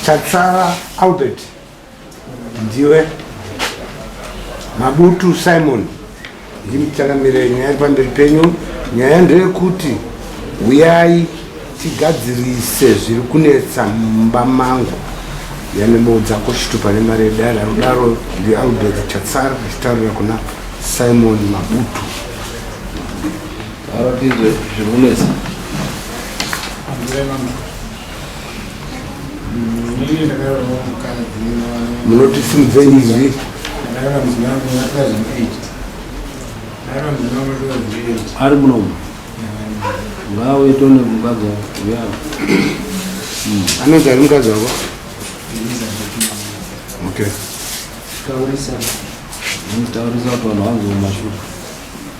Chatsara Albert ndiwe Mabutu Simon ndimuchangamire nyaya iri pamberi penyu nyaya ndeyekuti huyai tigadzirise zviri kunetsa mumba mangu yanemoudza kushitupa nemari yedare anodaro ndialbert chatsara achitaurira kuna simon mabutu aratidze zviri kunetsa munoti simudzei izvi ari munomu ngauye tone mukadzi wako uyavo hmm. anonzi ari mukadzi wako okay taurisa kuti vanhu vanzi mumashuka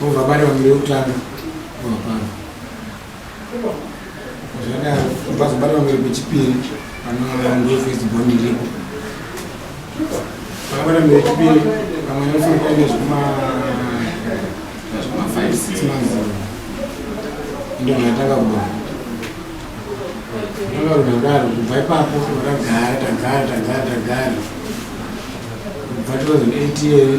Vobva bari vanhu veutano vapano zvadaro vazobari vanhu vechipiri vanoangefesiboni iripo vakabata vanhu vechipiri vamwe vanofanira kuita zvekuma five six months ndo ndatanga kuba ndanga kudakaro kubva ipapo vakagara tagara tagara tagara kubva 2008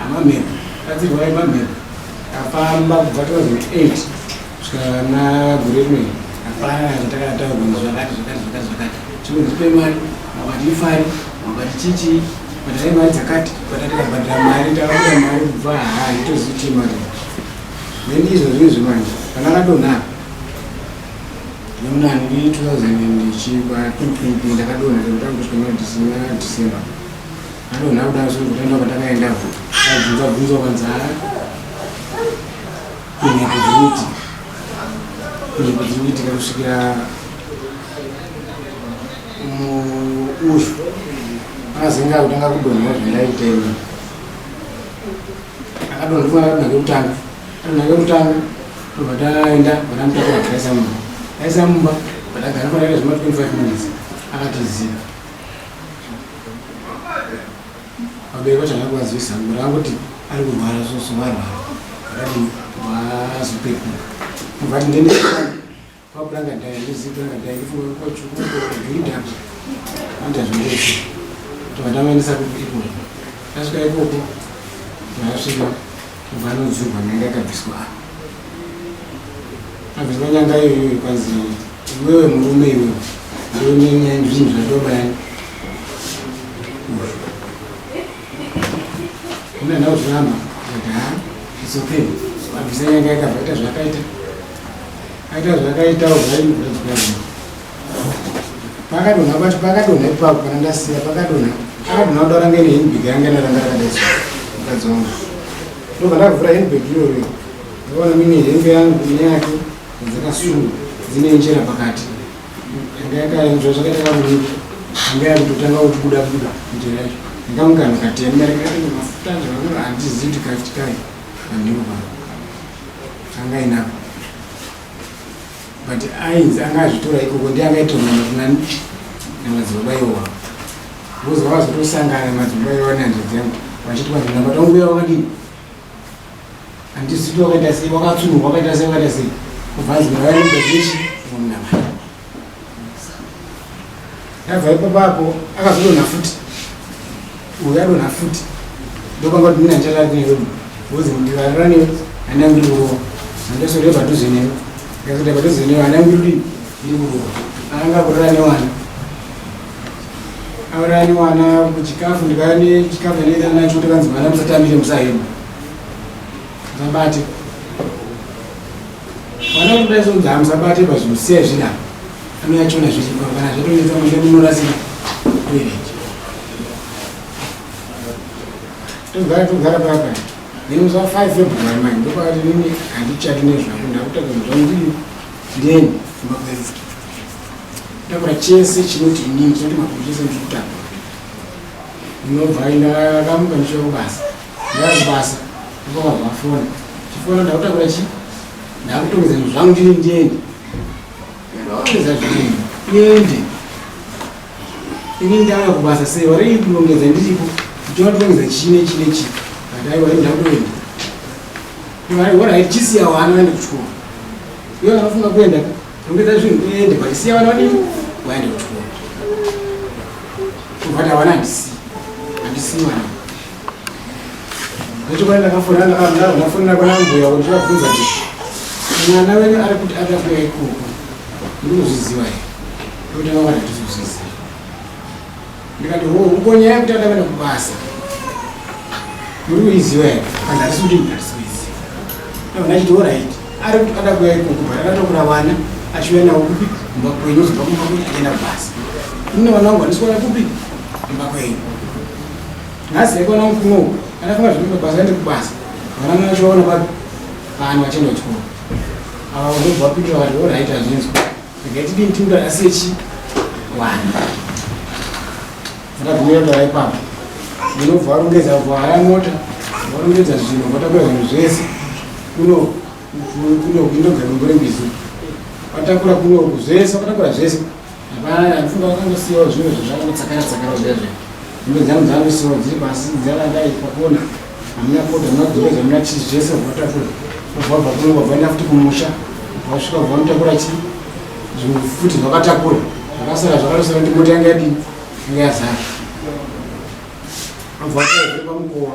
Amamhepo, kadzirwai mamhepo afamba kubva 2008 kusvika na gore rimweni hapana zvatakataurwa kuti zvakati zvakati zvakati zvakati chikunzi pe mari makwati ifari makwati chichi bhadharai mari dzakati bhata tikabhadhara mari takabuda mari kubva haa itozivi kuti mari then izvo zvinhu zvemanje kana akadonha nemunani ndi 2000 ndichikwa 2020 ndakadonha ndakutanga kusvika na december Anonha kudaro zvinhu zvakaenda kwandakaenda ko abvunza bvunza kwanzara kunyepo dziri kuti kunyepo dziri kuitika kusvikira muushu akazinga kutanga kudonhera zvandaita ini akadonhera akadonha kekutanga adonha kekutanga obva taenda batamutakura taisa mumba taisa mumba batagara kwataita zvema 25 minutes akatiziva Vabereki vacho havana kuvazivisa kuti vangoti ari kurwara soso varwara vakadini vazopekuka vati ndene kwakuranga dai ndizikuranga dai ndifunga kwachukuidapa anda zvinoita kuti vandamaendesa kuti ikoko tasvika ikoko ndasvika vanodzurwa nyanga ikabviswa abviswa nyanga iyoyo kwanzi iwewe murume iwewe ndonyenya zvinhu zvatobani unoenda kuzvihamba aa its okay abvisa nyanga yakabva ita zvakaita aita zvakaitawo zvaimuzvadzikazvino pakadonha pacho pakadonha ipapo kana ndasiya pakadonha akadonha kudara nge nehinbig yanga naranga rakadaisa mukadzi wangu ndobva ndakavhura hinbig iyoyo ndaona mine hembe yangu ine yake dzakasunga dzine njera pakati yanga yakaenzva zvakaita kakunika yanga yakutotanga kubuda buda njera yacho ndakamugana katema mafuta zvakanaka handizivi kuti kachikayi handiko pano angainako but ainzi anga azvitora ikoko ndi akaitonga matinani namadzibaba iwowa vozova vazotosangana namadzibaba iwowa nehanzvadzi yangu vachiti vanhu nabata wangu uya wakadini andisiti wakaita sei wakatsunurwa wakaita sei wakaita sei kubva anzi mwana waimbaichi munamai Ndabva ipapo apo akazodonha futi. Uyu adonha futi. Ndokanga kuti mina ndichatari kune wewe. Wozi ndivarara newe handangu ndiri kurowa. Handasore padhuze newe. Ndikasore padhuze newe handangu ndiri kudini? Ndiri kurowa. Anga kurara newana. Aurani wana kuchikafu ndikane chikafu ndinoita nacho kuti kanzi mwana musatambire musahema. Musabate. Mwana kuti dai sonzi hamusabate pazvinhu siya zvinapa. anoyachona zvese kana zvatonetsa manje munorasira toilet togara togara papa nemusa 5 february manje ndokwati nini handichati nezvako ndakutanga zvandiri then makwezi takura chese chinoti inini chinoti makuru chese ndikutanga ndinobva ndakamuka ndichiva kubasa ndakubasa ndakabva vafona chifona ndakutakura chi ndakutongeza zvangu ndiri ndiende Vaoneza zvii? Yendi. Ini ndava kubasa sei vari kurongedza ndiripo. Ndichona kurongedza chine chine chi. Ndai vari ndakuenda. Vari wona iri chisi yawo ano ende kuchikoro. Yona anofunga kuenda. Rongedza zvinhu uende but siya vana vadini waende kuchikoro. Kuvata vana ndisi. Ndisi vana. Nechokwana ndakafona ndakamdaro ndafonera kuna mbuya kuti ndakabvunza kuti mwana wenyu ari kuti ada kuya ikoko ndinozviziva here ndokuti vava ndatizozviziva ndikati ho uko nyaya yekuti ada kuenda kubasa muri kuiziva here kana arisi kuti ndatisoiziva ndachiti orit ari kuti ada kuya ikoko but akatokura vana achiuya nawo kupi kumba kwenyu zobva kumba kuti achienda kubasa mune vana wangu vandisikuona kupi kumba kwenyu nhasi yekona mufumo uku anafunga zvekuita basa aende kubasa vana mwana vachivaona papi vanhu vachienda kuchikoro ava vanobva vapindira vanhu oraiti hazvinzwa regai tidini timuda asiyechi wani akagumira tara ipapo unobva varongedza vaya mota varongedza zvinhu vatakura zvinhu zvese kuno kuno kunogarimbo rembizi vatakura kunoku zvese vatakura zvese Hapana, mfunga wakangosiyawo zvimwe zvazvakangotsakara tsakara kudai zve. Hembe dzangu dzangosiyawo dziri pasi dzakadai pakona. Hamuna kota, hamuna kudzoka, hamuna chii zvese kuvatafura. Kubva bva kuno kwabvaenda futi kumusha. Vasvika kubva mutakura chii? Zvimwe futi zvakatakura. Zvakasara zvakarosara kuti mota yanga yadii? Yanga yazara. Abva atova pamukova.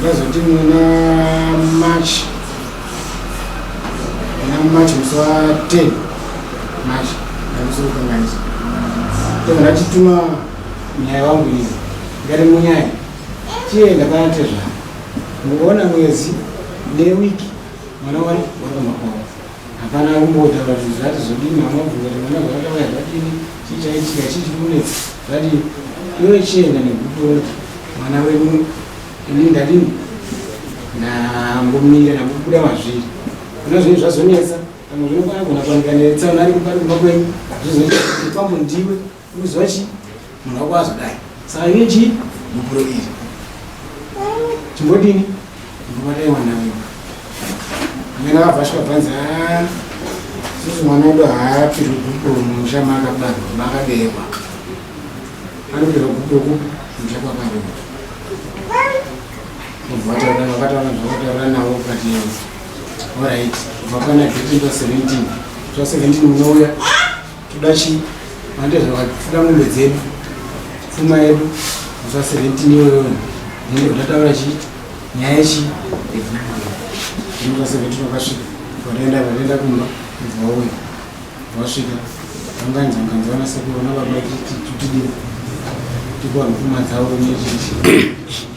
ndazoti muna march muna march musi wa 10 march ndamusikukanganisa tobva ndatituma nyaya wangu izi ngati munyaya chiye ndakanatezvana mukuona mwezi newiki mwana wari wakamakwawa Hapana akumbotaura kuti zvati zodini mama bvunza kuti mwana zvakauya zvadini chii chaitika chii chikunetsa zvadini iwe chienda negupuro kuti mwana wedu ini ndadini ndambomira ndambobuda mazviri kuna zvinhu zvazonetsa pamwe zvinogona kugona kuwanika netsaona ari kupari kumba kwenyu zvizoita kuti pambo ndiwe Unoziva chii? Munhu wako azodai. Saka iwe chii? Mupuro iri. Chimbodini? Ndobadai mwana wewe. Mwana akavashwa bhanzi haa. Ah, Sisi mwana wedu haapirwi gupo mumusha maakabarwa maakaberekwa. Anopirwa gupo kupi? Musha kwakaberekwa. Mubva vataura vakataura zvavataura navo ukati all right. Vakana 15 to 17. 17 unouya. Toda chii? Mande zvakati toda mombe dzedu, pfuma yedu, kufa seventini iyoyo nende kutataura chii nyaya yechii inofa seventini wakasvika vanoenda vanoenda kumba vauya vasvika vanganzi vanganzi vana sekuru vana baba titidii tikuwanhu pfuma dzavo nechii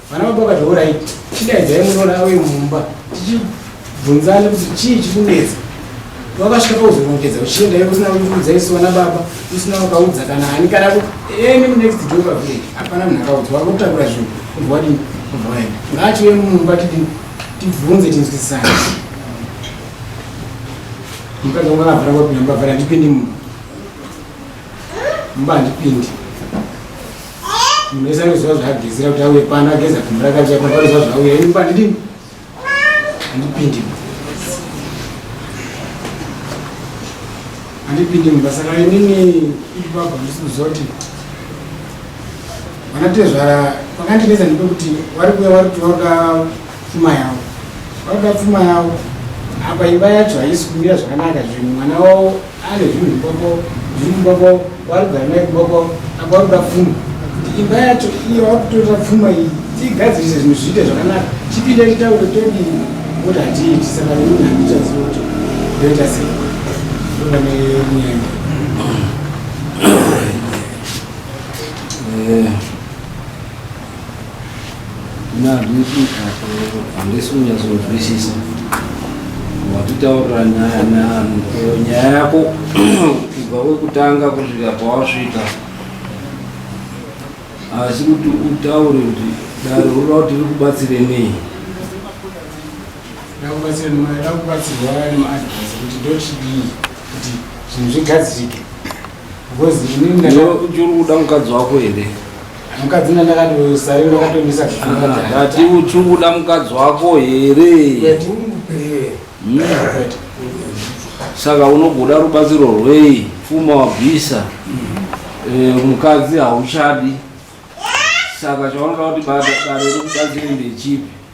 Vana baba vakati horaiti chidaidzai munoona auye mumba tichibvunzane kuti chii chikunetsa wakasvika pauzorongedza uchienda iwe usina kuudza isu vana baba usina wakaudza kana ani kana any next door pavillage hapana munhu akaudza wakutakura zvinhu kubva wadini kubva waenda ngaachiuye mumba tidini tibvunze tinzwisisane mukadzi wangu akavhara kwapinda mubavhara handipindi mumba mumba handipindi munhu wese anoziva zvaagezera kuti auye pano ageza gumbu rakachia pano anoziva zvauya ini pandidini handipindi handipindi mumba saka inini ibaba ndisi kuziva kuti vanatezvara vakandinetsa ndipekuti vari kuya vari kuti vakuda pfuma yavo vakuda pfuma yavo apa imba yacho haisi kumira zvakanaka zvinhu mwana wavo Ane zvinhu zviboko zviri muboko waari kugara naye kuboko apa wari kuda pfuma kuti imba yacho iyo wari kutorera pfuma iyi tiigadzirise zvinhu zviite zvakanaka chipinde chitaure todi kuti hatiiti saka ini handichaziva kuti ndoita sei kuva nenyaya Yeah. Mna handisi handisi kunyatsohwisisa watitaurira nyaya nani iyo nyaya yako kubva kwekutanga kusvika pawasvika asi kuti utaure kuti dare unoda kuti ri kubatsire nei ndakubatsirwa nemaadvise kuti ndochidii kuti zvinhu zvigadzirike Ngozi ini Iwe ndaka uchiri kuda mukadzi wako here mukadzi ndandakati sari ndakatomisa kufunga Ah, jana. ndati uchiri kuda mukadzi wako here But ungupe. Mm. But saka unogoda rubatsiro rwei pfuma wabvisa Eh, mukadzi hauchadi saka chaunoda kuti bada- dare rikubatsire ndechipi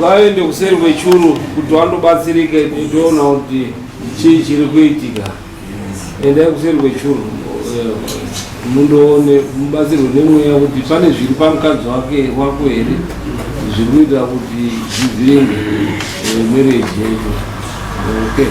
vaende kuseri kwechuru kuti vandobatsirika ndiona kuti chii chiri kuitika endai kuseri kwechuru mundoone mubatsirwe nemweya kuti pane zviri pamukadzi wake wako here zviri kuita kuti zvivhiringe eh, mereji yenyu okay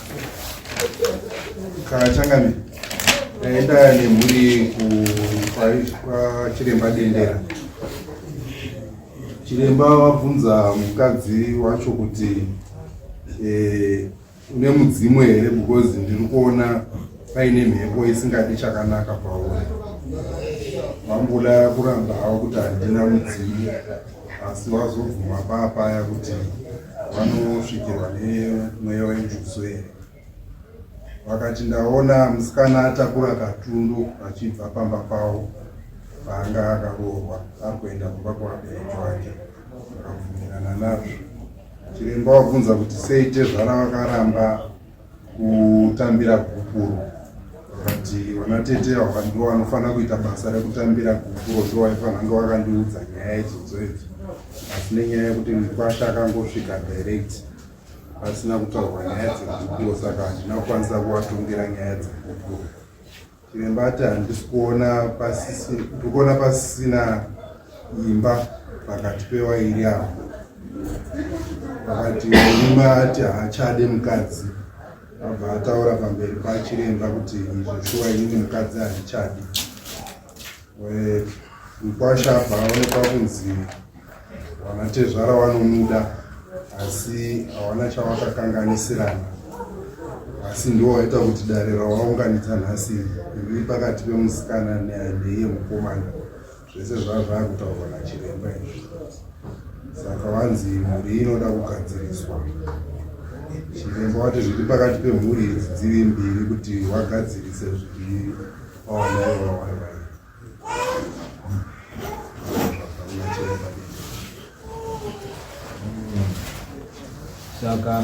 kachangani aenda nemhuri kwachiremba dendera chiremba wabvunza mukadzi wacho kuti eh, une mudzimu here because ndiri kuona paine mhepo isingadi chakanaka pauri vamboda kuramba havo kuti handina mudzimu asi wazobvuma paa paya kuti vanosvikirwa nemweya wenjuso here vakati ndaona musikana atakura katundu achibva pamba pavo paanga akaroorwa ari kuenda kumba kwabereki wake vakabvumirana nazvo chiremba wabvunza kuti sei tezvara vakaramba kutambira gupuro vakati vana tete ava ndo vanofanira kuita basa rekutambira gupuro ndo vaifanange vakandiudza nyaya idzodzo idzo asi nenyaya yekuti mukwasha akangosvika direct asina kutaurwa nyaya dzegupuro saka handina kukwanisa kuvatongera nyaya dzegupuro Chiremba ati handisi kuona pasisi, ndikuona pasisina imba pakati pewairi avo. Vakati murume ati haachade mukadzi, abva ataura pamberi pachiremba kuti izvo shuwa inini mukadzi handichadi. Mkwasha apa aonekwa kunzi vanatezvara vanomuda asi hawana chawakakanganisirana asi ndiwo waita kuti dare rawaunganidza nhasi riri pakati pemusikana neiye mukomana zvese zvava zvava kutaurwa nachiremba izvi saka vanzi mhuri inoda kugadziriswa chiremba wati zviri pakati pemhuri idzi dziri mbiri kuti wagadzirise zviri Saka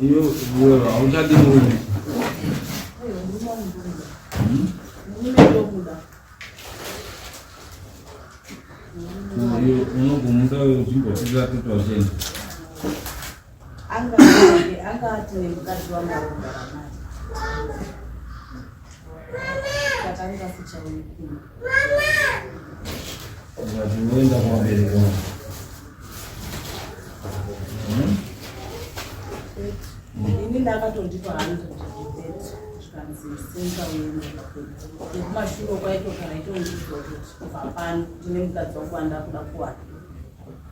iyo wewe hauchadi murume unogumuka uchimbotira kuti wachenda Anga anga ati nemukadzi wangu akugara naye. Saka anga sichaoni kuno. Ndinoenda kuvabereki vangu. Ini ndakatondipa hangu zvikanzi singa uende nekumashure kwaitogara itondizokuti kubva pano ndine mukadzi wangu andakuda kuwana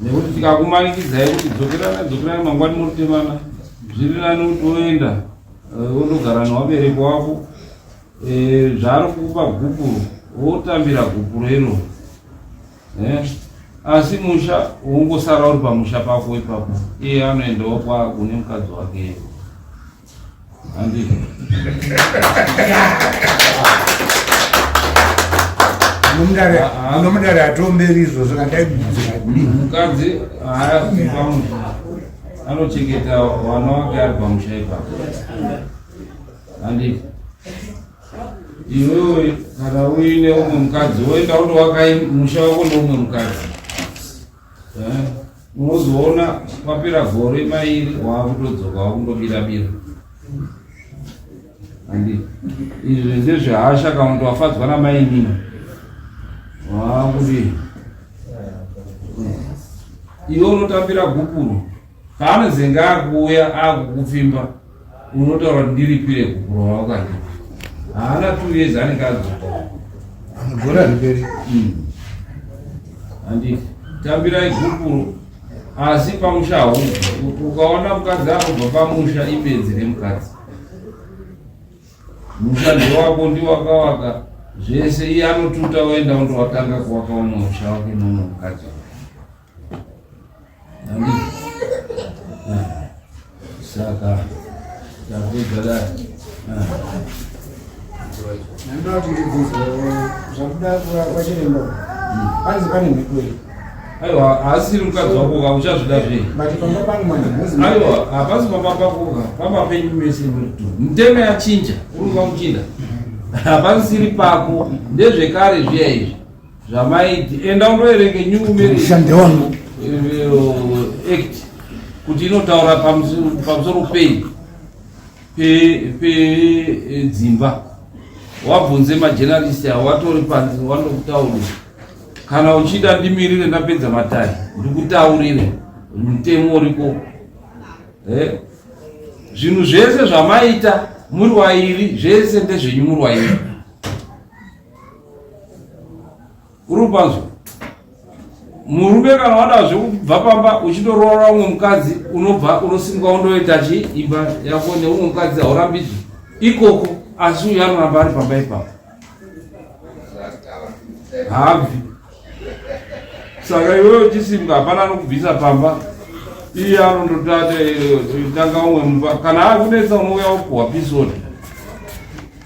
nekuti tikakumanikidzai kuti dzokerana dzokerana mangwani motemana zviri nani kuti woenda eh, wondogara newabereki wako eh, zvaari kukupa gupuro wotambira gupuro iro eh, asi musha wongosara uri pamusha pako ipapo iye anoendawo kwakune mukadzi wake nomudare atomberi izvozvo kandaimukadzi anochengeta vana wake ari pamusha ipapo handipo iwewe kana uine umwe mukadzi woenda unovaka musha wako neumwe mukadzi Eh, unozoona kwapera gore mairi waakutodzoka wakundobira bira andi izvi ndezvehasha kana kuti wafadzwa namainini waakuti eh, iwe unotambira gupuro Paanozenge akuuya akukupfimba unotaura kuti ndiripire kukurova ukati haana two years anenge adzoka gore ariperi hmm. handiti tambirai gupuro asi pamusha hau ukaona mukadzi anobva pamusha ibenzi remukadzi musha ndewako ndiwakawaka zvese iye anotuta oenda undowatanga kuwaka umwe musha wake nono mukadzi Saka ndakugara ndoda kuti ndibvunze zvakuda kwachiremba panzi pane mhepo here aiwa haasiri mukadzi wako ka uchazvida zvei aiwa hapasi pamba pakoka pamba penyu mese muteme yachinja uri kuva muchinda hapasisiri pako ndezvekare zviya izvi zvamaiti enda undoverenge new marriage wangu eh, act kuti inotaura pamusoro pei pedzimba pe, eh, wabvunze majenalisti awo watori panzi wanokutaurira kana uchida ndimirire ndapedza matari ndikutaurire mutemo uriko eh? zvinhu zvese zvamaita muri wairi zvese ndezvenyu muri wairi uri panzwa murume kana wada zvekubva pamba uchitoroora umwe mukadzi unobva unosimuka undoita chi imba yako neumwe mukadzi haurambidzwi ikoko asi uyu anoramba ari pamba ipapo habvi saka iwewe uchisimuka hapana anokubvisa pamba iye anondotanga umwe mumba kana akunetsa unouya wopuhwa pisoni